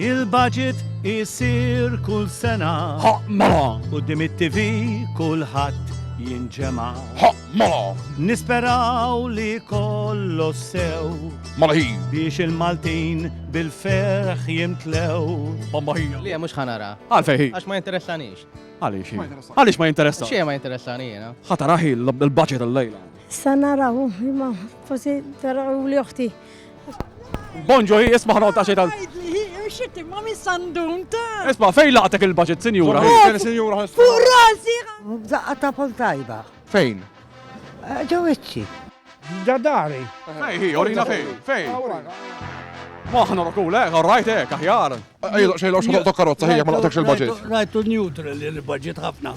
Il-budget isir kull sena. Mela. U dim it-TV kulħadd jinġema. Mela. Nisperaw li kollo sew. Mela hi. Biex il-Maltin bil-ferħ jimtlew. Bomba hi. Li mhux ħanara. Għalfej hi. Għax ma interessanix. Għaliex hi. Għaliex ma jinteressa. Xie ma interessani jena. Ħatara hi l-budget l-lejla. Sanaraw, ma forsi taraw li uħti. Bonġo hi isma' ħanqod xejn tal. Xittim ma min sandun ta'. Isma' fejn laqtek il-budget, sinjura? Sinjura. Fuq rasi! Daqqa ta' pol tajba. Fejn? Eh, Ġewiċċi. Dadari. Fejn hi, orina fejn? Fejn? Maħna rokul, eh, rajt eh, kaħjar. Ejloq xejloq xogħol ta' karozza ħija ma laqtekx il-budget. Rajtu neutral il-budget ħafna.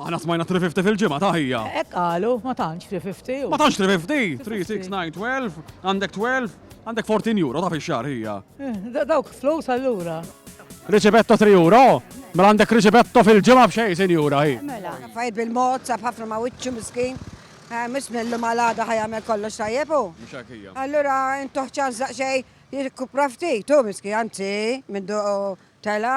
Aħna smajna 350 fil-ġimgħa ta' ħija. Hekk qalu, ma tantx 350. Ma tantx 350, 3, 6, 9, 12, għandek 12, għandek 14 euro ta' fix-xahar ħija. Eh, dawk flus allura. Riċibetto 3 euro? Mela għandek riċibetto fil-ġimgħa b'xejn, sinjura hi. Mela, fajt bil-mod, saf ħafna ma' wiċċu miskin. Eh, Mis millu ma' l-għada ħajamel kollox tajjebu. Allura, intuħ ċanżaq xej jirkupra ftit, tu miski, anzi, minn tela,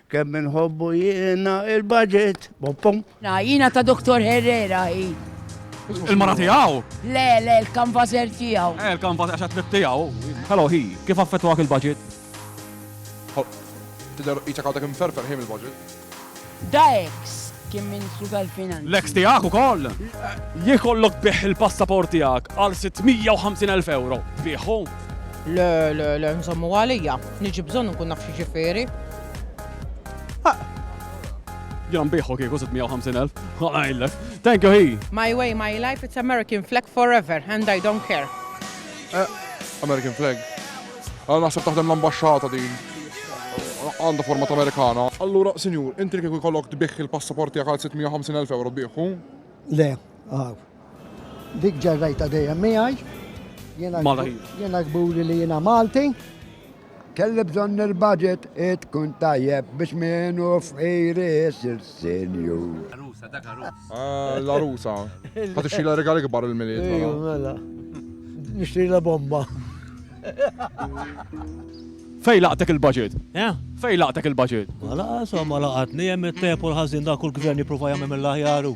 Kemm inħobbu jiena il-budget. Boppom. Na, jiena ta' Dr. Herrera hi. Il-mara tiegħu? Le, le, l-kanvażer tiegħu. Eh, l-kanvażer għax għatlet tiegħu. Hello, hi, kif affettwak il-budget? Tidher iċek għadek imferfer ħin il-budget. Da ex kien Ministru tal-Finanzi. L-ex tiegħek ukoll? Jikollok biħ il-passaport tiegħek għal 650,000 euro. Biħu? Le, le, le, nżommu għalija. Niġi bżonn nkun naf x'ġifieri. Ġan biħu kieku 650.000. Għajlek. Thank you, hi. My way, my life, it's American flag forever, and I don't care. Eh, American flag. Għal naħseb taħdem l-ambasċata din. Għanda format Amerikana. Allura, sinjur, inti kieku jkollok tbiħ il-passaport tiegħek għal 650.000 euro biħu? Le, għaw. Dik ġarrajta dejjem miegħi. Jiena kburi li jiena Malti. Kelli bżonn il-budget tkun tajjeb biex minnu f'iri sir senju. L-arusa, dak arus. Ah, l-arusa. Għat ixila regali kbar il-miliet. Mela. mela. Nixtri la bomba. Fej laqtek il-budget? Eh? Fej laqtek il-budget? Ma laqas, ma laqatni, jem il-tepu l-ħazin dak kull gvern jiprofa jgħamil mill-ħjaru.